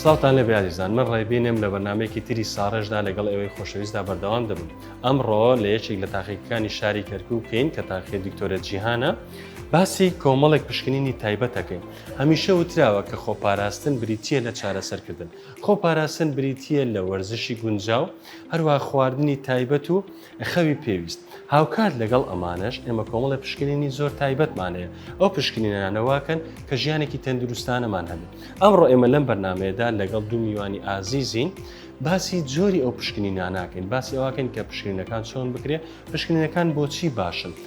سڵاوتان لێبێ ئازیزان من ڕێبینم لە بەرنمەیەکی تری ساڕێژدا لەگەڵ ئێوەی خۆشەویستدا بەردەوام دەبم ئەمڕۆ لە یەکێک لە تاقیەکانی شاری کەرکوو بکەین کە تاقی دکتۆرە جیهانە باسی کۆمەڵێک پشکنینی تایبەتەکەین هەمیشە وتراوە کە خۆپاراستن بریتە لە چارەسەرکردن خۆپاراستن بریتە لە وەرزشی گونجاو هەروەها خواردنی تایبەت و خەوی پێویست، هاوکات لەگەڵ ئەمانەش ئێمە کۆمەڵێ پشکنینی زۆر تایبەتمان هەیە، ئەو پشکنینانە واکەن کە ژیانێکی تەندروستانەمان هەبێت، ئەمڕۆ ئێمە لەم بەرنامەیەدا لەگەڵ دوو میوانی ئازیزین باسی جۆری ئەو پشکنینانە ئەکەین، باسی ئەوەکەین کە پشکنینەکان چۆن بکرێت، پشکنینەکان بۆچی باشن؟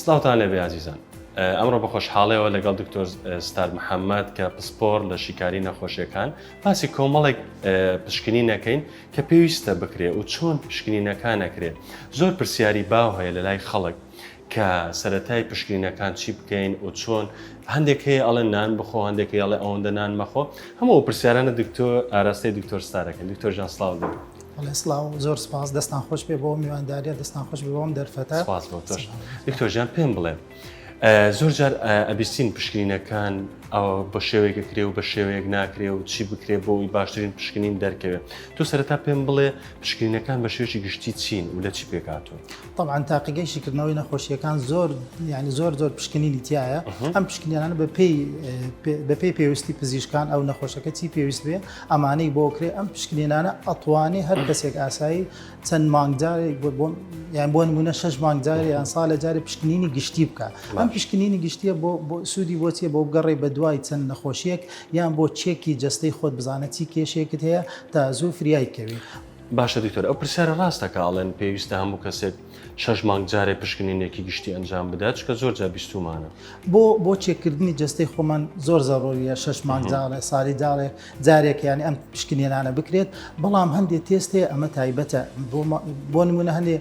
سڵاوتان لێ بێ ئازیزان. ئەمڕۆ بە خۆشحاڵیەوە لەگەڵ دکتۆر ستار محەممەد کە پسپۆڕ لە شیکاری نەخۆشیەکان باسی کۆمەڵێک پشکنی نەکەین کە پێویستە بکرێ و چۆن پشکنینەکان نەکرێت زۆر پرسیاری باو هەیە لە لای خەڵک کە سەتای پشکنینەکان چی بکەین و چۆن هەندێک هەیە ئەڵێ نان بخۆ هەندێک هەڵێ ئەوەندە نان مەخۆ هەموو پرسیارانە دکتۆر ئاراستەی دکتۆر ستارەکەن دکتۆر ژان سلااو دەبێت. بەڵێ سڵاو زۆر سپاس دەستان خۆش بێ بۆ میوانداریە دەستان خۆش بێ بۆم دەرفەتە سپاس بۆ تۆش دکتۆر جان پێم بڵێ زۆر جار ئەبیستین پشکنینەکان ئەوە بە شێوەیەکە کرێ و بە شێوەیەک ناکرێ و چی بکرێ بۆ ئەوی باشترین پشکنین دەرکەوێت تۆ سەرەتا پێم بڵێ پشکنینەکان بە شێوەی گشتی چین و لە چی پێکاتون طبعاان تاقیگەی شیکردنەوەی نەخۆشیەکان زۆر ینی زۆر زۆر پشکنینی تایە ئەم پشکنیانە بە پێی بە پێی پێویستی پزیشکان ئەو نەخۆشەکە چی پێویست بێ ئەمانەی بۆ کرێ ئەم پشکنینانە ئەتوانێ هەر کەسێک ئاسایی چەند مانگجارێک یان بۆ نمونە شش مانگجارێ یان ساڵە جارێ پشکنینی گشتی بکە ئەم پشکنینی گشتیە بۆ سوودی بۆچیە بۆ بگەڕێ بە دوای چەند نەخۆشیەک یان بۆ چێکی جستەی خۆت بزانە چی کێشێکت هەیە تا زوو فریای کەوی باشە دکتۆر ئەو پرسیارە ڕاستەکە ئاڵێن پێویستە هەموو کەسێک شەش مانگ جارێ پشکنینێکی گشتی ئەنجام بدە چکە زۆر جا بیستومانە بۆ بۆ چێکردنی جستەی خۆمان زۆر زەڕۆریە شەش مانگ جاڵێ ساری داڵێ جارێک ینی ئەم پشکنێنانە بکرێت بەڵام هەندێک تێست هەیە ئەمە تایبەتە بۆ نمونە هەندێ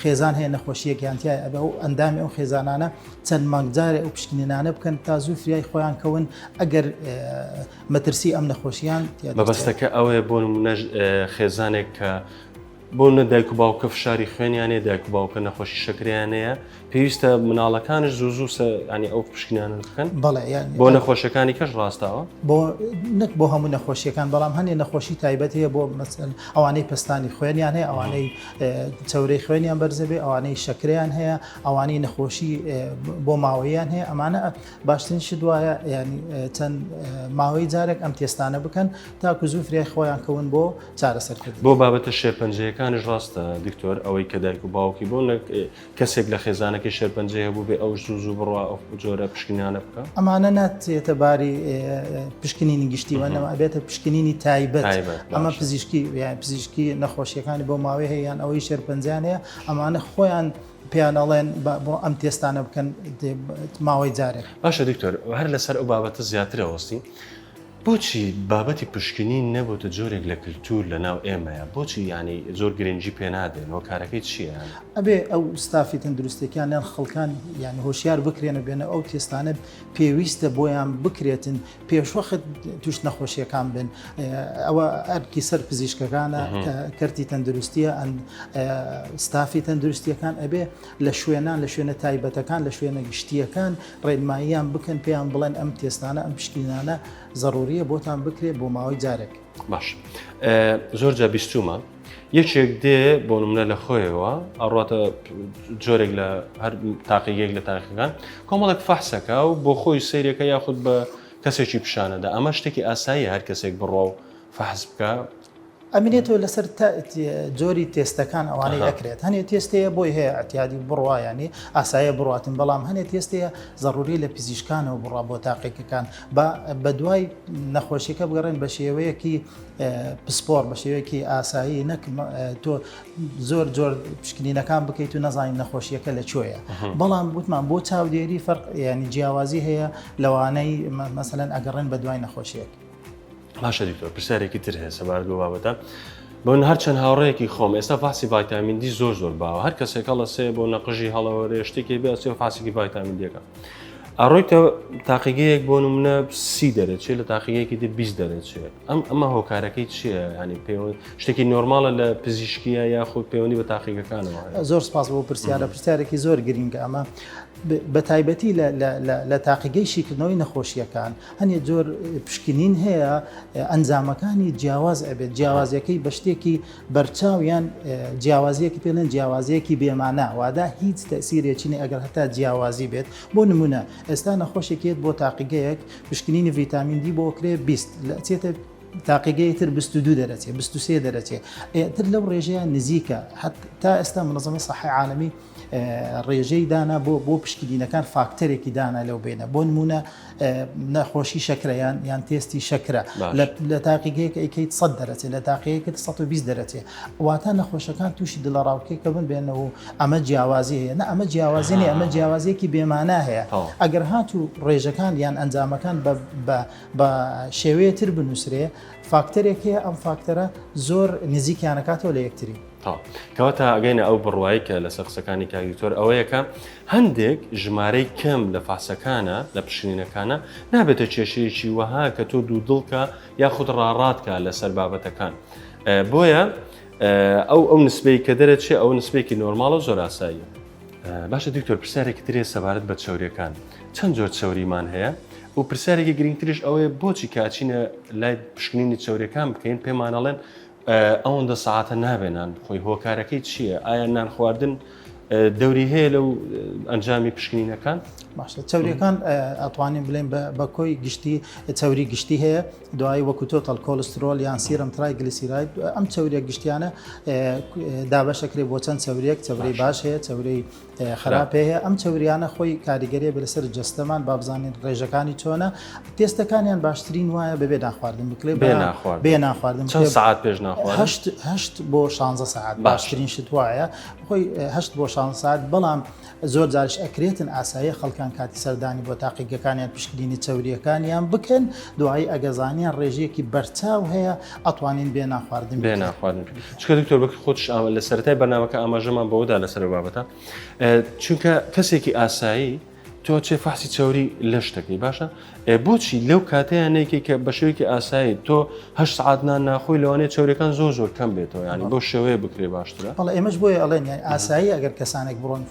خێزان هەیە نەخۆشیەک یانتیای ئەبە و ئەندامی ئەو خێزانانە چەند مانگ جارێ ئەو پشکنێنانە بکەن تا زوو فریای خۆیان کەون ئەگەر مەترسی ئەم نەخۆشیان بەبستەکە ئەوێ بۆ نمونە خێزانێک کە بۆ نە دایک و باوکە فشاری خوێنیانێ دایک و باوکە نەخۆشی شەکریانەیە پێویستە مناڵەکانش زوو زوو سە ینی ئەو پشکنیان بکەن بەڵێ یان بۆ نەخۆشەکانی کەش ڕاستاوە بۆ نەک بۆ هەموو نەخۆشیەکان بەڵام هەنێ نەخۆشی تایبەت هەیە بۆ مەسن ئەوانەی پستانی خوێنیان هەیە ئەوانەی چاورەی خوێنیان بەرزەبێ ئەوانەی شەکریان هەیە ئەوانەی نەخۆشی بۆ ماوەیان هەیە ئەمانە باشترین شت وایە ینی چەند ماوەی جارێک ئەم تێستانە بکەن تاکو زوو فریای خۆیان کەون بۆ چارەسەر کردن. بۆ بابەتە شێرپەنجەیەکانیش ڕاستە دکتۆر ئەوەی کە دایک و باوکی بۆ نەک کەسێک لە خێزانەکەی شێرپەنجەی هەبوو بێ ئەوش زوو زوو بڕوا ئەو جۆرە پشکنیانە بکە. ئەمانە ناتێتە باری پشکنینی گشتی وەنەوە ئەبێتە پشکنینی تایبەت ئەمە پزیشکی پزیشکی نەخۆشیەکانی بۆ ماوەی هەیەیان ئەوەی شێرپەنجانەیە ئەمانە خۆیان پیانەڵێن بۆ ئەم تێستانە بکەن ماوەی جارێک باشە دکتۆر هەر لەسەر ئەو بابەتە زیاترەوەستی. بۆچی بابەتی پشکنین نەبۆتە جۆرێک لە کلتور لە ناو ئێمەیا؟ بۆچی یانی زۆر گرنگی پێ نادەین؟ هۆکارەکەی چیە یانی؟ ئەبێ ئەو ستافی تەندروستیەکان یان خەڵکان یانی هۆشیار بکرێن و بێنە ئەو تێستانە پێویستە بۆیان بکرێتن پێشوەخت توش نەخۆشیەکان بن ئەوە ئەرکی سەر پزیشکەکانە کە کەرتی تەندروستیە ئەن ستافی تەندروستیەکان ئەبێ لە شوێنان لە شوێنە تایبەتەکان لە شوێنە گشتیەکان ڕێنماییان بکەن پێیان بڵێن ئەم تێستانە ئەم پشکینانە زەڕوریە بۆتان بکرێت بۆ ماوەی جارێک باش زۆر جا بیستومە یەکێک دێ بۆ منە لە خۆیەوە ئەڕاتە جۆرێک لە هەر تاقیگەێک لە تاقیەکان کۆمەڵک فەحسەکە و بۆ خۆی سیرەکە یاخود بە کەسێکی پیشانەدا ئەمە شتێکی ئاسایی هەر کەسێک بڕوا و فەحز بکە ئەمینێتەوە لەسەر تە جۆری تێستەکان ئەوانەی ئەکرێت هەنێ تێستەیە بۆی هەیە ئەتیادی و بڕوایانی ئاسایە بڕاتن بەڵام هەنێ تێستەیە زەڕوری لە پزیشکانەوە بڕا بۆ تاقیەکەکان بە بە دوای نەخۆشیەکە بگەڕێن بە شێوەیەکی پسپۆر بە شێوەیەکی ئاسایی نەک تۆ زۆر جۆر پشکنینەکان بکەیت و نەزانین نەخۆشیەکە لە کوێیە بەڵام وتمان بۆ چاودێری فەرق ینی جیاوازی هەیە لەوانەی مەسەن ئەگەڕێن بە دوای نەخۆشیەکە باشە دکتۆر پرسیارێکی تر هەیە سەبارەت بۆ بابەتە بۆن هەرچەند هاوڕەیەکی خۆم ئێستا فاسی ڤایتامین دی زۆر زۆر باوە هەر کەسێک هەڵە سێ بۆ نەقژی هەڵەوەێ شتێکی بێ سێ فاسیکی ڤایتامین دیەکە ئەڕۆیتە تاقیگەیەک بۆ منە سی دەرەچێ لە تاقیگەیەکی دی بیست دەرەچێت ئەم ئەمە هۆکارەکەی چییە ینی پێ شتێکی نۆرمالە لە پزیشکیە یاخود پەیوەندی بە تاقیگەکانەوە زۆر سپاس بۆ پرسیارە پرسیارێکی زۆر گرینگە ئەمە بە تایبەتی لە تاقیگەی شیکردنەوەی نەخۆشیەکان هەنێ جۆر پشکنین هەیە ئەنجامەکانی جیاواز ئەبێت جیاوازیەکەی بە شتێکی بەرچاو یان جیاوازیەکی پێڵێن جیاوازیەکی بێمانە وادا هیچ تەسیرێکینی ئەگەر هەتا جیاوازی بێت بۆ نمونە ئێستا نەخۆشێکێت بۆ تاقیگەیەک پشکنینی ڤیتامین دی بۆ کرێ بیست لە چێتە تاقیگەی تر 22 دەرەچێ 23 دەرەچێ ئێتر لەو ڕێژەیە نزیکە حتا ئێستا منەزمە سەحی عاالمی ڕێژەی دانا بۆ بۆ پشکیدینەکان فاکتەرێکی دانا لەو بێنە بۆ نمونە نەخۆشی شەکریان یان تێستی شەکرە لە تاقیگەیەک ئەیکەیت سە دەرەچێت لە تاقەیە کرد 120 دەرەچێت واتە نەخۆشەکان تووشی دڵە ڕاوکێکە بن بێنەوە و ئەمە جیاوازی هەیە نە ئەمە جیاوازی نیە ئەمە جیاوازیەکی بێمانە هەیە ئەگەر هات و ڕێژەکان یان ئەنجامەکان بە شێوەیە تر بنووسرێ فاکتەرێک هەیە ئەم فاکتەرە زۆر نزیکیانەکاتەوە لە یەکتری تەواو. کەواتە ئەگەینە ئەو بڕوای کە لەسەر قسەکانی کاک دکتۆر ئەوەیە کە هەندێک ژمارەی کەم لە فاسەکانە لە پشکنینەکانە نابێتە کێشەیەکی وەها کە تۆ دوو دڵکە یاخود ڕاڕاتکە لەسەر بابەتەکان بۆیە ئەو ئەو نسبەی کە دەرەچێ ئەو نسبێکی نۆرماڵە زۆر ئاساییە باشە دکتۆر پرسیارێک ترێ سەبارەت بە چاوریەکان چەند زۆر چاوریمان هەیە و پرسیارێکی گرنگترش ئەوەیە بۆچی کاچینە لای پشکنینی چاوریەکان بکەین پێمانەڵێن ئەوەندە سەعاتە نابێ نان بخۆی هۆکارەکەی چییە؟ ئایا نان خواردن دەوری هەیە لەو ئەنجامی پشکنینەکان؟ باشە چاوریەکان ئەتوانین بلێن بە کۆی گشتی چاوری گشتی هەیە دوایی وەکو تۆتەل کۆلسترۆل یان سیرم ترای گلیسیراید ئەم چاوریە گشتیانە دابەشەکرێ بۆ چەند چاوریەک چاوری باش هەیە چاوری خراپێ هەیە ئەم چوریانە خۆی کاریگەری بە لەسەر جستەمان بابزانین ڕێژەکانی چۆنە تێستەکانیان باشترین وایە بەبێ ناخواردن بکلێ بێ ناخوارد بێ ناخواردن چەند ساعت پێش ناخواردهشت بۆ 16 ساعت باشترین شت وایە خۆی هەشت بۆ 16 ساعت بەڵام زۆر جارش ئەکرێتن ئاسایە خەڵکان کاتی سەردانی بۆ تاقیگەکانیان پشکنینی چوریەکانیان بکەن دوایی ئەگەزانیان ڕێژەیەکی بەرچاو هەیە ئەتوانین بێ ناخواردن بێ ناخواردن چونکە دکتۆر بەکر خۆتش لە سەرەتای بەرنمەکە ئاماژەمان بەوەدا لەسەر بابەتە چونکە کەسێکی ئاسایی تۆ چێ فەحسی چاوری لەش دەکەی باشە بۆچی لەو کاتیانێکی کە بە شێوکی ئاسایی تۆ هە سعاتنان ناخۆی لەوانێ چاورەکان زۆر زۆر کەم بێتەوە ینی بۆ شێوەیە بکرێ باشترە بەڵ ئێمەش بۆیە ئەڵێن یان ئاسایی ئەگەر کەسانێک بڕۆن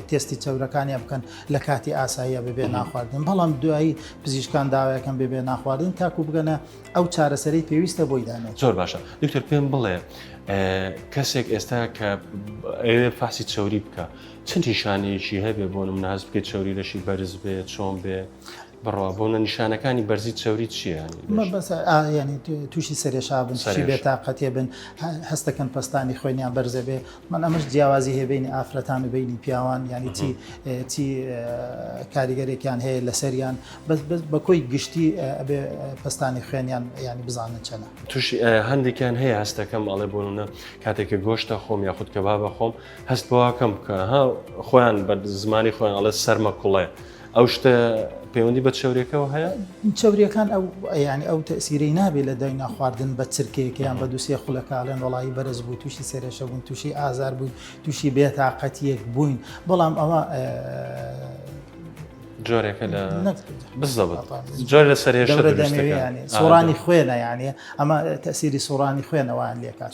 تستی چاورەکانیان بکەن لە کاتی ئاساییە ببێ ناخواردن بەڵام دوایی پزیشکان داوایەکەم ببێ ناخواردن تاکو بگەنە ئەو چارەسەری پێویستە بۆی دانێت زۆر باشە دکتۆر پێم بڵێ کەسێک ئێستا کە ئەوێ فاسی چوری بکە چەند نیشانەیەکی هەبێ بۆ من ناز بکە چوری لەشی بەرز بێ چۆن بێ بڕوا بۆنە نیشانەکانی بەرزی چوری چیانی تووشی سەرێشا بن سەری بێتاقەتێ بن هەستەکەن پستانی خوێنیان بەرزە بێ من ئەمەش جیاوازی هەیە بەینی ئافرەتان و بەینی پیاوان یانی چی چی کاریگەرێکیان هەیە لەسەریان بەس بەس بە کۆی گشتی ئەبێ پستانی خوێنیان ینی بزانن چەنە توش هەندێکیان هەیە هەستەکەم ئەڵێ بۆنە کاتێککە گۆشتە خۆم یاخود کە بابە خۆم هەست بەواکەم کە ها خۆیان بە زمانی خۆیان ئەڵێ سەرمە کوڵێ ئەو شتە پەیوەندی بە چاوریەکەەوە هەیە چاوریەکان ئەو ینی ئەو تەسیرەی نابێت لە دای ناخواردن بە چرکەیەکیان بە دووسێ خولەکڵێن وڵی بەرز بوو تووشی سێرێشە بوون تووشی ئازار بووین تووشی بێتاقەتیەک بووین بەڵام ئەوە جۆرێکە لە بزەبت جۆر لە سەرێشە سۆرانی خوێنە یانە ئەمە تەسیری سۆرانی خوێنەوەیان لێکات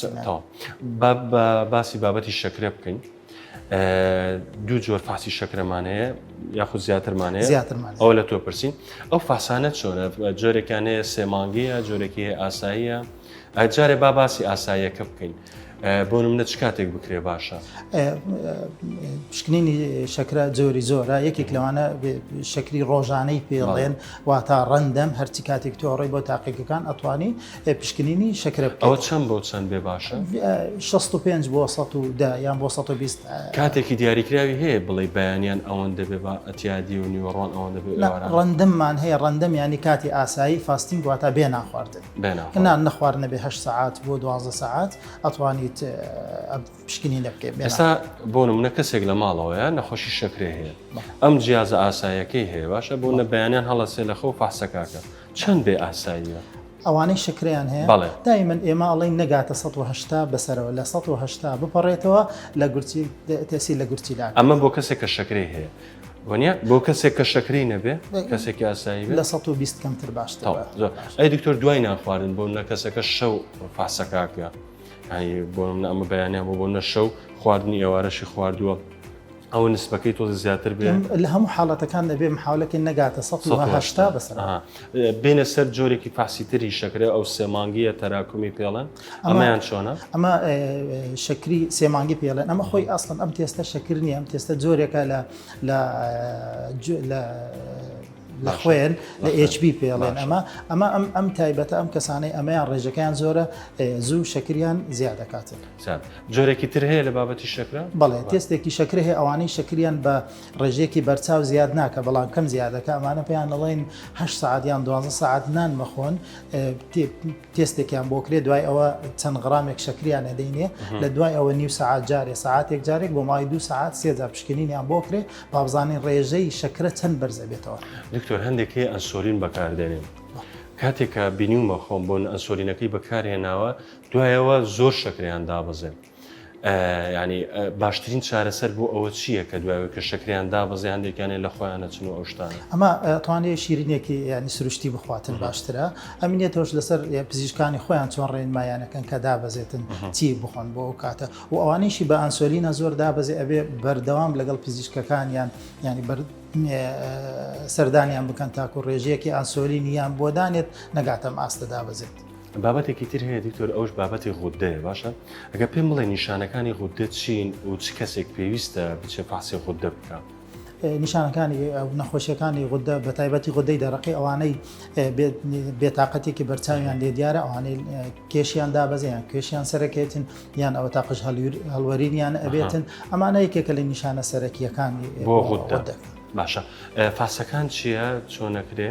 باسی بابەتی شەکرە بکەین دوو جۆر فاسی شەکرەمان هەیە یاخود زیاترمان هەیە زیاترمان ئەو لە تۆ پرسین ئەو فاسانە چۆنە جۆرێکیان هەیە سێمانگەیە جۆرێکی هەیە ئاساییە جارێ با باسی ئاساییەکە بکەین بۆ منە چ کاتێک بکرێ باشە پشکنینی شەکرە جۆری زۆرە یەکێک لەوانە شەکری ڕۆژانەی پێڵێن واتا ڕەندەم هەرچی کاتێک تۆڕی بۆ تاقیەکان ئەتوانی ئێ پشکنینی شەکرە بکەیت. ئەوە چەند بۆ چەند بێ باشە؟ شەست و پێنج بۆ سەد و دە یان بۆ سەد و بیست. کاتێکی دیاریکراوی هەیە بڵێی بەیانیان ئەوەندە بێ با ئەتیادی و نیوەڕۆان ئەوەندە بێ نا ئێواران؟ ڕەندممان هەیە ڕەندم یانی کاتی ئاسایی فاستینگ واتە بێ نانخواردن بێ نانخواردن. نا نەخوارد نەبێ هەشت سەعات بۆ دوازدە سەعات ئەتوانیت ئەم پشکنینە بکەیت بێ ئێستا نانخواردن. بۆ نمونە کەسێک لە ماڵەوەیە نەخۆشی شەکرەی هەیە بەڵێ. ئەم جیازە ئاساییەکەی هەیە باشە بۆ نە بەیانیان هەڵەسێ لە خەو فەحسەکە کە. چەند بێ ئاساییە؟ ئەوانەی شەکرەیان هەیە بەڵێ دایمەن ئێمە ئەڵین نەگاتە 1970 بەسەرەوە لە 1970 بپەڕێتەوە لە گورچیل تەسی لە گورچیلا ئەمە بۆ کەسێک کە شەکرەی هەیە وەنیا بۆ کەسێک کە شەکری نەبێ کەسێکی ئاسایی لە 120 کەمتر باش ئەی دکتۆر دوای ناخواردن بۆ نە کەسەکە شەو فاسەکاکە بۆ ئەمە بەیانیان بۆ بۆ نەشەو خواردنی ئێوارەشی خواردووە ئەوە نسبەکەی تۆزێ زیاتر بێ. لە هەموو حاڵەتەکان دەبێ محاولە کەین نەگاتە سەد و هەشتا بەسەر. ئەها بێینە سەر جۆرێکی فەحسی تری شەکرە ئەو سێ مانگییە تەراکمی پێڵێن ئەمەیان چۆنە؟ ئەمە شەکری سێ مانگی پێڵێن ئەمە خۆی ئەسڵەن ئەم تێستە شەکر نییە ئەم تێستە جۆرێکە لە لە لە لە خوێن لە HB پێڵێن ئەمە ئەمە ئەم ئەم تایبەتە ئەم کەسانەی ئەمەیان ڕێژەکەیان زۆرە زوو شەکریان زیاد دەکاتن. چەند جۆرێکی تر هەیە لە بابەتی شەکرە؟ بەڵێ تێستێکی شەکرە هەیە ئەوانەی شەکریان بە ڕێژەیەکی بەرچاو زیاد ناکە بەڵام کەم زیادەکە ئەمانە پێیان نەڵێن هە سعات یان دو سعات نان مەخۆن تێستێکیان بۆ کرێ دوای ئەوە چەند غرامێک شەکریان نەدەینێ لە دوای ئەوە نیو سعات جارێ ساعتێک جارێک بۆ مای دو سعات سێجار پشکنینیان بۆ کرێ بابزانین ڕێژەی شەکرە چەند بەرزە بێتەوە دکتۆر هەندێک هەیە ئەنسۆلین بەکاردێنێن. کاتێکە بینیومە خۆم بۆن ئەسۆلینەکەی بەکارهێناوە دوای ئەوە زۆر شەکرەیان دابەزێن. یانی باشترین چارەسەر بۆ ئەوە چییە کە دوایەوە کە شەکریان دابەزی هەندێکیانێ لە خۆیان نەچن و ئەوشتانە ئەمە توانێ شیرینێکی ینی سروشتی بخواتن باشترە ئەمینێتەوەش لەسەر پزیشکانی خۆیان چۆن ڕێنمایانەکەن کە دابەزێتن چی بخۆن بۆ ئەو کاتە و ئەوانیشی بە ئەنسۆلینە زۆر دابەزێ ئەبێ بەردەوام لەگەڵ پزیشکەکانیان ینی بەر سەردانیان بکەن تاکو ڕێژەیەکی ئاسۆلینیان بۆ دانێت نەگاتەم ئاستە دابەزێت. بابەتێکی تر هەیە دکتۆر ئەوش بابەتی غوددەیە باشە ئەگە پێم بڵێ نیشانەکانی غوددە چین و چ کەسێک پێویستە بچێ فاسی غوددە بکە. نیشانەکانی نەخۆشیەکانی غوددە بە تایبەتی غودەی دەرەقی ئەوانەی بێتاقەتێکی بەرچاویان لێ دیارە ئەوانەی کێشیان دابەزیان کێشیان سەرەکەێتن یان ئەوە تا قژ هەڵوەرینیان ئەبێتن ئەمانە یەکێکە لە نیشانە سەرەکیەکانی بۆ غوددە. باشە فاسەکان چییە چۆنەکرێ؟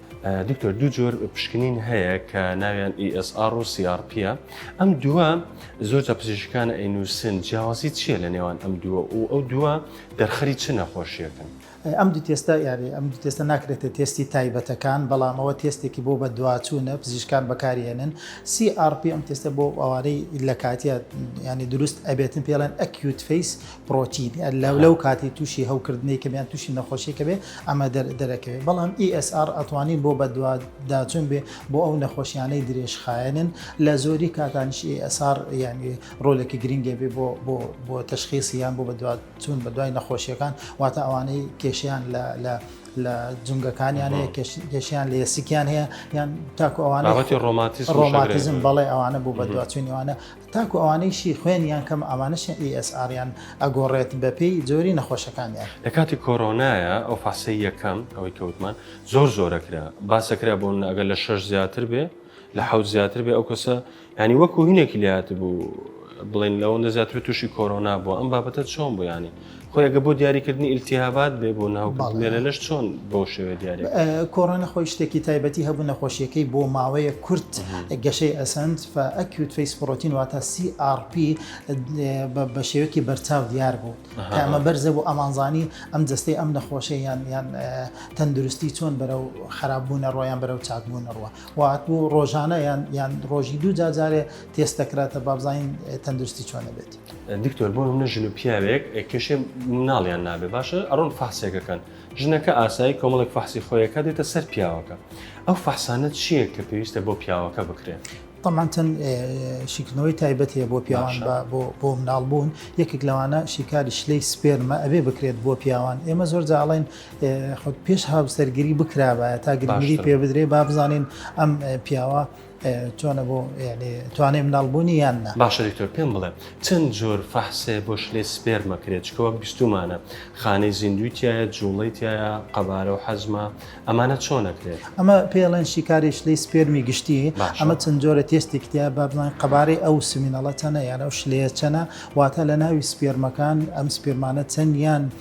دکتۆر دوو جۆر پشکنین هەیە کە ناویان ESR و CRP ە ئەم دووە زۆر جا پزیشکانە ئەینوسن جیاوازی چییە لە نێوان ئەم دووە و ئەو دووە دەرخەری چ نەخۆشیەکەن ئەم دوو تێستە یاری ئەم دوو تێستە ناکرێتە تێستی تایبەتەکان بەڵامەوە تێستێکی بۆ بە دواچوونە پزیشکان بەکارهێنن CRP ئەم تێستە بۆ ئەوانەی لە کاتیە ینی دروست ئەبێتن پێڵێن ئەکیوت فیس پرۆتین لەو کاتی تووشی هەوکردنی کەمیان تووشی نەخۆشیکە بێ ئەمە دەرەکەوێت بەڵام ESR ئەتوانین بۆ بەدواداچون بێ بۆ ئەو نەخۆشیانەی درێژخایەنن لە زۆری کاتانش ESR یعنی ڕۆلێکی گرنگێ بێ بۆ بۆ بۆ تشخیصی یان بۆ بەدوادچون بە دوای نەخۆشیەکان واتە ئەوانەی کێشیان لە لە لە جونگەکانیان هەیە کێشیان لە یسیکیان هەیە یان تاکو ئەوانەتی ڕۆماتیزم بەڵێ ئەوانە بوو بە دوچوینیوانە تاکو ئەوانەیشی خوێنیان کەمە ئەوانەشیان ئی ئێس ئاریان ئەگۆڕێت بەپێی جۆری نەخۆشەکانیان. لە کاتی کۆرۆنایە ئەو فاسەی یەکەم ئەوەی کە وتمان زۆر زۆر ئەکرا باس ئەکرا بۆ منە ئەگەر لە شەش زیاتر بێ لە حەوت زیاتر بێ ئەو کەسە یانی وەکو هینێکی لێ هاتبوو بڵێن لەوەندە زیاتر تووشی کۆرۆنا بووە ئەم بابەتە چۆن بوو یانی؟ خۆی گە بۆ دیاریکردنی ئیلتیهابات بێ بۆ ناو مێرەلەش چۆن بۆ شێوێ دیارە کۆڕۆنە خۆی شتێکی تایبەتی هەبوو نەخۆشیەکەی بۆ ماوەیە کورت گەشەی ئەسند ئەکیوت فیس پرۆتین واتە CRP بە شێوەکی بەرچاو دیار بوو ئەمە بەرزە بۆ ئەمانزانی ئەم جستەی ئەم نەخۆشە یان یان تەندروستی چۆن بەرەو خراپبوونە ڕۆیان بەرەو چاکبوون ڕوە وات بوو ڕۆژانە یان یان ڕۆژی دوو جاجارێ تێستەکراتە بابزین تەندروستی چۆنە بێت. دکتۆر بۆ نمونە ژن و پیاوێک کێشێ مناڵیان نابێ باشە ئەڕۆن فحسێکەکەن ژنەکە ئاسایی کۆمەڵێک فحسی خۆیەکە دێتە سەر پیاوەکە ئەو فحسانە چییە کە پێویستە بۆ پیاوەکە بکرێت طبعا چەند شیکردنەوەی تایبەت هەیە بۆ پیاوان بۆ مناڵ بوون یەکێک لەوانە شیکاری شلەی سپێرمە ئەبێ بکرێت بۆ پیاوان ئێمە زۆر جاڵێن خۆت پێش هاوسەرگیری بکرابە تا گرنگی پێ بدرێ با بزانین ئەم پیاوە چۆنە بۆ یەعنی توانەی مناڵ بوونی یان نا. باشە دکتۆر پێم بڵێ چەند جۆر فەحسێ بۆ شلەی سپێرم ئەکرێ چکە وەک بیستومانە خانەی زیندووی تیایە جوڵەی تیایە قەبارە و حەجمە ئەمانە چۆن ئەکرێ. ئەمە پێی ئەڵێن شیکاری شلەی سپێرمی گشتی ئەمە چەند جۆرە تێستێکی تیایە با بڵێن قەبارەی ئەو سمینەڵە چەنە یان ئەو شلەیە چەنە واتە لە ناوی سپێرمەکان ئەم سپێرمانە چەن یان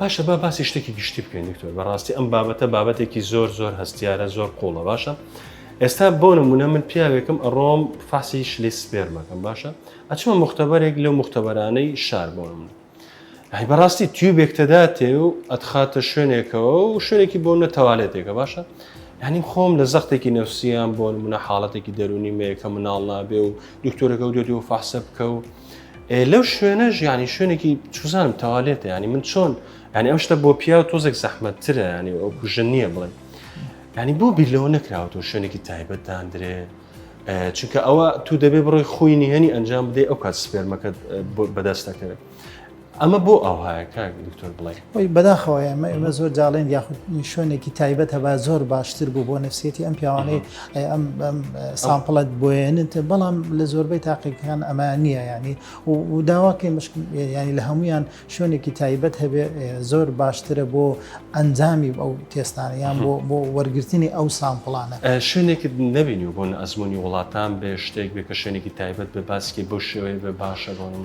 باشە با باسی شتێکی گشتی بکەین دکتۆر بەڕاستی ئەم بابەتە بابەتێکی زۆر زۆر هەستیارە زۆر قوڵە باشە ئێستا بۆ نمونە من پیاوێکم ئەڕۆم فاسی شلی سپێرمەکەم باشە ئەچمە مختبەرێک لەو مختبەرانەی شار بۆ منە هەی بەڕاستی تیوبێک تەداتێ و ئەتخاتە شوێنێکەوە و شوێنێکی بۆ نە تەوالێتێکە باشە هەنیم خۆم لە زەختێکی نەوسیان بۆ منە حاڵەتێکی دەرونی مەیەکە مناڵ نابێ و دکتۆرەکە و دێت و فحسە بکە و لەو شوێنەش ینی شوێنێکی چوزانم تەوالێتە ینی من چۆن ینی ئەم شتە بۆ پیا و تۆزێک زەحمەتترە ینی ئەو کوژە نییە بڵێن ینی بۆ بیرلەوە نەکراوەوە شوێنێکی تایبەت دادرێ چونکە ئەوە تو دەبێ بڕۆی خوینی هەنی ئەنجام بدەی ئەو کات سپێرمەکەت بەدەست دەکەوێت ئەمە بۆ ئاوهایە کاک دکتۆر بڵێ؟ وەی بەداخەوە ئێمە ئێمە زۆر جاڵێن یاخود شوێنێکی تایبەت هەبا زۆر باشتر بوو بۆ نفسێتی ئەم پیاوانەی ئەم سامپڵەت بۆێنت بەڵام لە زۆربەی تاقیەکان ئەمە نییە ینی و داواکەی مشکل ینی لە هەمویان شوێنێکی تایبەت هەبێ زۆر باشترە بۆ ئەنجامی ئەو تێستانە یان بۆ بۆ وەرگرتنی ئەو سامپڵانە شوێنێکت نبینی و بۆن ئەزمموی وڵاتان بێ شتێک بێ کە شوێنێکی تایبەت بە باسکی بۆ شێوەیە بە باشە بۆ من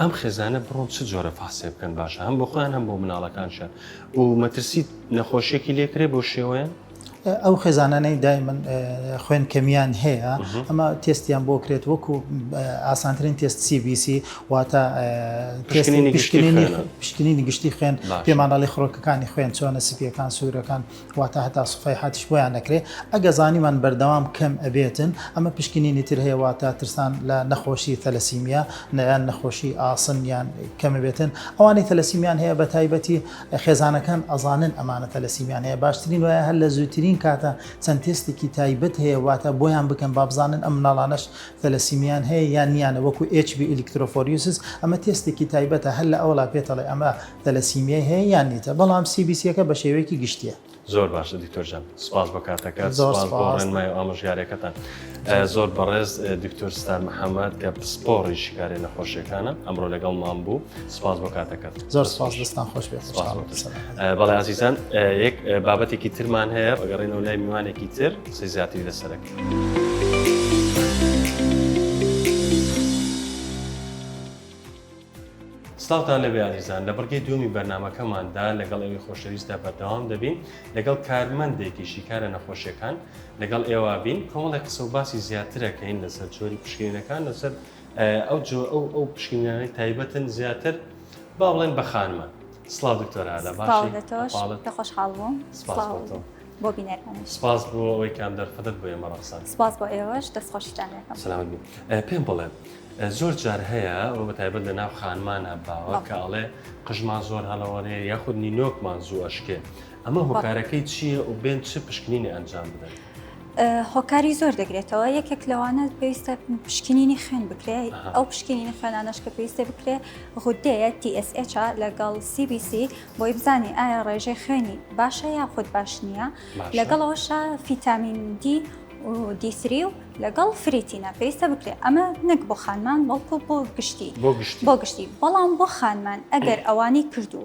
ئەم خێزانە بڕۆن چ جۆرە فەحسێ بکەن باشە هەم بۆ خۆیان هەم بۆ مناڵەکانشە و مەترسیت نەخۆشیێکی لێکرێ بۆ شێوەیان ئەو خێزانانەی دای من خوێن کەمیان هەیە ئەمە تستیان بۆ کرێت وەکو ئاسانترین تست CBC واتە پشکنینی گشتینی گشتی خوێن پێمانناڵی خڕۆکەکانی خوێن چۆنە سپیەکان سوورەکان واتە هەتا سفەی حاتیش بۆیان نەکرێ ئەگە زانیمان بەردەوام کەم ئەبێتن ئەمە پشکنینی تر هەیە واتە ترسان لە نەخۆشی تەلەسیمیا نیان نەخۆشی ئاسن یان کەمەبێتن ئەوانەی تەلەسیمیان هەیە بە تایبەتی خێزانەکان ئەزانن ئەمانە تەلەسیمیان هەیە باشترین وایە هەر لە زووترین کاتە چەند تێستێکی تایبەت هەیە واتە بۆیان بکەن بابزانن ئەم مناڵانەش تەلەسیمیان هەیە یان نیانە وەکو ئچ بی ئلیکترۆفۆریوسس ئەمە تێستێکی تایبەتە هەر لە ئەولا پێتەڵێ ئەمە تەلەسیمیای هەیە یان نیتە بەڵام سی بی سیەکە بە شێوەیەکی گشتیە. زۆر باشە دکتۆر جان سپاس بۆ کاتەکەت زۆر سپاس بۆ سپاس. ڕێنمای و ئامۆژگاریەکەتان ئە، زۆر بەڕێز دکتۆر ستار محەمەد کە پسپۆڕی شیکاری نەخۆشیەکانە ئەمڕۆ لەگەڵمان بوو سپاس بۆ کاتەکەت. زۆر سپاس دەستان خۆش بێت سپاس بۆ تۆش. سەلامەت. بەڵێ ئازیزان ئە، یەک ئە، بابەتێکی ترمان هەیە ئەگەڕێینەوە لای میوانێکی تر قسەی زیاتری لەسەر ئەکەین. سڵاوتان لەبێ ئازیزان لە بڕگەی دووەمی بەرنمەکەماندا لەگەڵ ئێوەی خۆشەویستدا بەردەوام دەبین لەگەڵ کارمەندێکی شیکارە نەخۆشیەکان لەگەڵ ئێوە بین کۆمەڵی قسە و باسی زیاترەکەین لەسەر جۆری پشکینەکان لەسەر ئەو جۆ ئەو ئەو پشکینانەی تایبەتن زیاتر با بڵێن بە خانمان سڵاو دکتۆر هەلا باشی لە خۆشحاڵ بووم بۆ بینەرەکان سپاس بۆ ئەوەی کام دەرفەتت بۆ ئێمە ڕەخسان سپاس بۆ ئێوەش دەستخۆشیتان پێم بڵێن زۆر جار هەیە ئەوە بە تایبەت لە ناو خانمانە باوە کە ئەڵێ قژمان زۆر هەڵەوەێ یاخود نینۆکمان زوو ئەشکێ ئەمە هۆکارەکەی چییە و بێن چ پشکنینی ئەنجام بدەن. هۆکاری زۆر دەگرێتەوە یەکێک لەوانە پێویستە پشکنینی خوێن بکرێ ئەو پشکنینی خوێنانەش کە پێویستە بکرێ غودەیە TSH لەگەڵ CBC بۆی بزانانی ئایا ڕێژەی خوێنی باشە یاخود باش نییە لەگەڵەوەشە فیتامین دی و دیسری و لەگەڵ فریتینا پێویستە بکرێت ئەمە نەک بۆ خانمان بەڵکو بۆ گشتی بۆ گشتی بۆ گشتی بەڵام بۆ خانمان ئەگەر ئەوانی کردو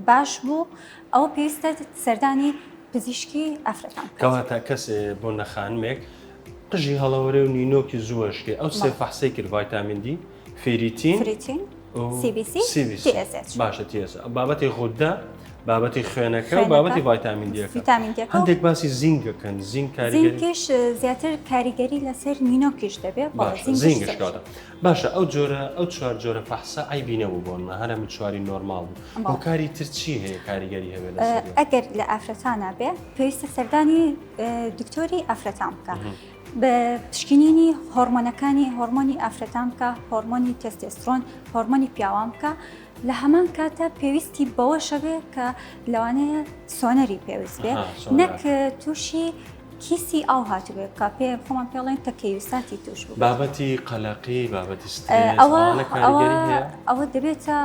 باش بوو ئەوە پێویستە سەردانی پزیشکی ئافرەتان بکات. کەواتە کەسێ بۆ نەخانمێک قژی هەڵەوەرێ و نینۆکی زووەشکێ ئەو سێ فەحسەی کرد ڤایتامین دی فریتین فریتین سی بی سی سی بی سی. تی ئێس ئێچ. باشە تێز بابەتی غودە بابەتی خوێنەکە و خوێنەکە. بابەتی ڤایتامین دیەکە ڤیتامین دیەکە و هەندێک باسی زینگەکەن زینگ کاریگەری زینکیش زیاتر کاریگەری لەسەر نینۆکیش دەبێت بەڵام باشە زینکیش زینگش زۆر. کاتە باشە ئەو جۆرە ئەو چوار جۆرە فەحسە عیبی نەبوو بۆن من هەرە من چواری نۆرماڵ بوو بەڵێ. هۆکاری تر چی هەیە کاریگەری هەبێت لەسەر ئەگەر لە ئافرەتانە بێ پێویستە سەردانی اه، دکتۆری ئافرەتان بکە بە پشکنینی هۆڕمۆنەکانی هۆڕمۆنی ئافرەتان بکە هۆڕمۆنی تێستێسترۆن هۆڕمۆنی پیاوان بکە لە هەمان کاتە پێویستی بەوەشەبێ کە لەوانەیە سۆنەری پێویست بێ نەک تووشی کیسی ئاو هاتوێت کا پێ خۆمان پێڵێن تەکەیوساتی توش بابەتی قەلەقی بابەتی ئەوە ئەوە دەبێتە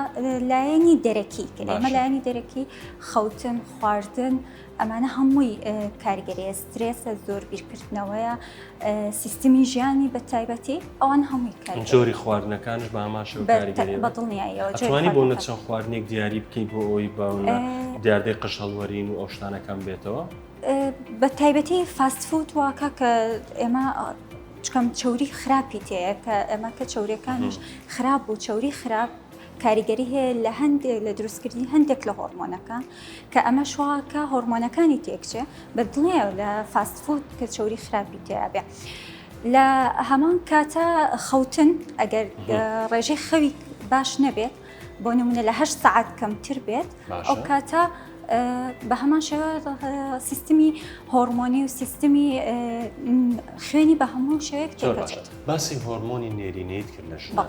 لایەنی دەرەکی کە ئێمە لایەنی دەرەکی خەوتن خواردن ئەمانە هەمووی کاریگەریە سترێسە زۆر بیرکردنەوەیە سیستمی ژیانی بە تایبەتی ئەوان هەمووی کار جۆری خواردنەکانش بە ئاماش بەدڵنیایەوەوانی بۆ نەچەند خواردنێک دیاری بکەیت بۆ ئەوی بە دیاردەی قش هەڵوەرین و ئەوشتانەکەم بێتەوە بە تایبەتی فاستفوت واکە کە ئێمە چکەم چوری خراپی تەیە کە ئەمە کە چورەکانیش خراپ و چوری خراپ کاریگەری هەیە لە هەندێک لە دروستکردنی هەندێک لە هۆرمۆنەکان کە ئەمە شواکە هۆرمۆنەکانی تێکچێ بە دڵێ لە فاست فود کە چوری خراپی تیاابێ. لە هەمان کاتە خەوتن ئەگەر ڕێژەی خەوی باش نەبێت بۆ نمونە لە هە سعات کەمتر بێت ئەو کاتە بە هەمان شێوە سیستمی هۆرمۆنی و سیستمی خوێنی بە هەموو شێک باسی هۆرمۆنی نێرینەیت کرد لە ژماڵ.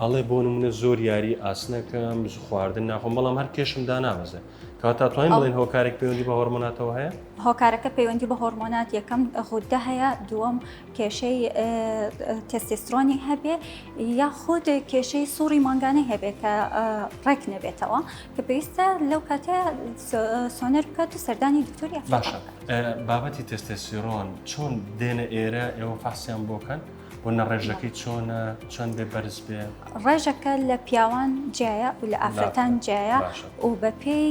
ئەڵێ بۆ نمونە زۆر یاری ئاسنەکەم خواردن ناخۆم بەڵام هەر کێشم دانابەزێ کاتا توانین بڵێن هۆکارێک پەیوەندی بە هۆرمۆناتەوە هەیە هۆکارەکە پەیوەندی بە هۆرمۆنات یەکەم غوددە هەیە دووەم کێشەی تستیسترۆنی هەبێ یاخود کێشەی سوڕی مانگانەی هەبێت کە ڕێک نەبێتەوە کە پێویستە لەو کاتە سۆنەر بکات و سەردانی دکتۆری باشە بابەتی تستێسیرۆن چۆن دێنە ئێرە ئێوە فحسیان بۆکەن و نە ڕێژەکەی چۆنە چەند بێ بەرز بێ ڕێژەکە لە پیاوان جیایە و لە ئافرەتان جیایە و بە پێی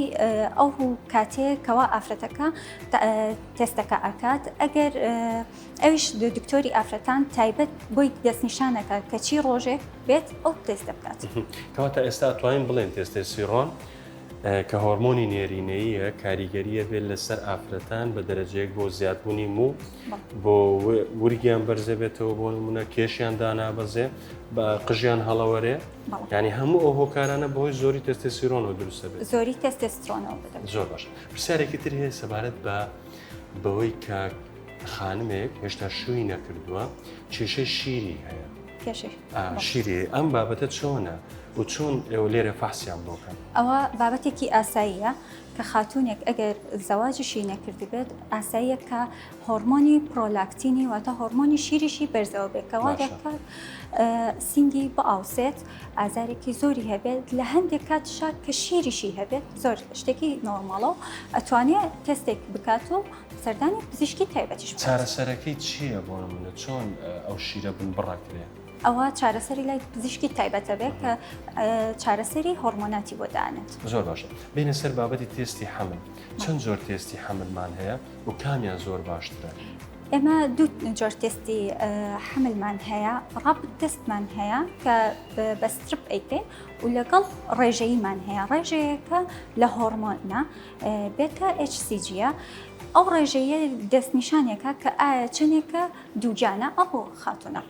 ئەو کاتێک کەوا ئافرەتەکە تێستەکە ئەکات ئەگەر ئەویش دکتۆری ئافرەتان تایبەت بۆی دەستنیشانەکە کەچی ڕۆژێک بێت ئەو تێستە بکات کەواتە ئێستا توانین بڵێن تێستێ سیڕۆن کە هۆرمۆنی نێرینەیە کاریگەریە بێت لەسەر ئافرەتان بە دەرەجەیەک بۆ زیادبوونی موو بۆ ورگیان بەرزێ بێتەوە بۆ نمونە کێشیان دانابەزێ بە قژیان هەڵەوەرێ ینی هەموو ئەو هۆکارانە بۆی زۆری تەستێسیرۆنەوە دروستە بێت زۆری تەستێسترۆنەوە زۆر باش پرسیارێکی تر هەیە سەبارەت بە بەوەی کە خانمێک هێشتا شووی نەکردووە کێشەی شیری هەیە شیری ئەم بابەتە چۆنە و چۆن ئێوە لێرە فەحسیان بۆکەن ئەوە بابەتێکی ئاساییە کە خاتوونێک ئەگەر زەواجیشی نەکردبێت ئاساییە کە هۆرمۆنی پرۆلاکتینی واتە هۆرمۆنی شیریشی بەرزەوە بێت کەوا دەکات سینگی بئاوسێت ئازارێکی زۆری هەبێت لە هەندێک کات شات کە شیریشی هەبێت زۆر شتێکی نۆرماڵە و ئەتوانێت تەستێک بکات و سەردانی پزیشکی تایبەتیش چارەسەرەکەی چییە بۆ منە چۆن ئەو شیرە بن بڕەکرێت ئەوا چارەسەری لای پزیشکی تایبەتە بێت کە چارەسەری هۆرمۆناتی بۆ دانێت. زۆر باشە بێنە سەر بابەتی تێستی حەمل چەند زۆر تێستی حەملمان هەیە و کامیان زۆر باشترە؟ ئێمە دوو جۆر تێستی حەملمان هەیە ڕاپ تستمان هەیە کە بە سترپ ئەیکەین و لەگەڵ ڕێژەیمان هەیە ڕێژەیەکە لە هۆرمۆنە بێتە HCGە ئەو ڕێژەیە دەستنیشانێکە کە ئایا چنێکە دووجانە ئەو خاتونە.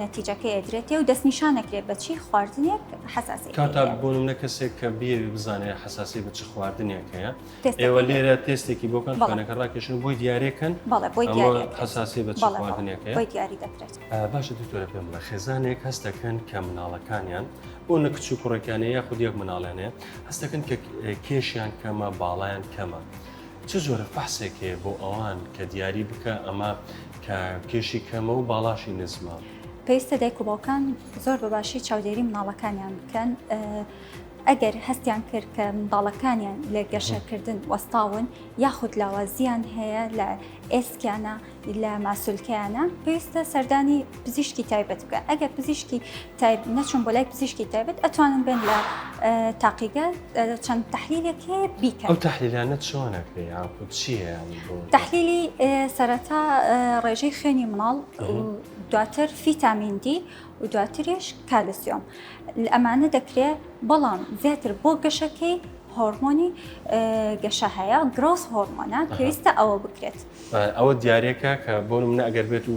نەتیجەکەی ئەدرێتێ و دەستنیشان ئەکرێ بە چی خواردنێک حەساسیەتی هەیە. کاتە بۆ نمونە کەسێک کە بیەوێ بزانێ حەساسی بە چ خواردنێک هەیە ئێوە لێرە تێستێکی بۆ کەن خوێنەکە ڕاکێشن و بۆی دیارێکەن بەڵێ بۆی دیارێ حەساسی بە چ خواردنێک هەیە بۆی دیاری دەکرێت. باشە دکتۆرە پێم بڵێ خێزانێک هەست دەکەن کە مناڵەکانیان بۆ نە کچ و کوڕێکیان هەیە یاخود یەک مناڵیان هەیە هەست دەکەن کە کێشیان کەمە باڵایان کەمە چ جۆرە فەحسێک هەیە بۆ ئەوان کە دیاری بکا ئەمە کە کێشی کەمە و باڵاشی نزمە. پێویستە دایک و باوکان زۆر بە باشی چاودێری مناڵەکانیان بکەن ئەگەر هەستیان کرد کە منداڵەکانیان لە گەشەکردن وەستاون یاخود لاوازیان هەیە لە ئێسکیانە لە ماسولکەیانە پێویستە سەردانی پزیشکی تایبەت بکە ئەگەر پزیشکی تایب نەچون بۆ لای پزیشکی تایبەت ئەتوانن بێن لە تاقیگە چەند تحلیلێک هەیە بیکە ئەو تحلیلانە چۆنە پێ یاخود چیە تحلیلی سەرەتا ڕێژەی خوێنی مناڵ دواتر فیتامینندی و دواتریش کالسیۆم ئەمانە دەکرێت بەڵام زیاتر بۆ گەشەکەی هۆرمۆنی گەشە هەیە گرۆس هۆرمۆنە پێویستە ئەوە بکرێت ئەوە دیارەکە کە بۆ منە ئەگەر بێت و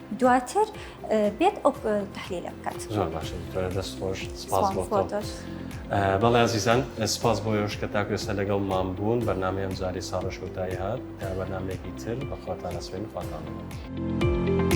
دواتر بێت ئەو تحلیلە بکات زۆر باشە دکتۆرە دەست خۆش سپاس بۆ تۆ. تۆش. ئە، بەڵێ ئازیزان سپاس بۆ یۆش کە تاکو ئێستا لەگەڵ مام بوون بەرنامەی ئەم جاری ساڕە شۆتایی هات تا بەرنمەیەکی تر بەخواتان ئەسپێن خواتان بگەن.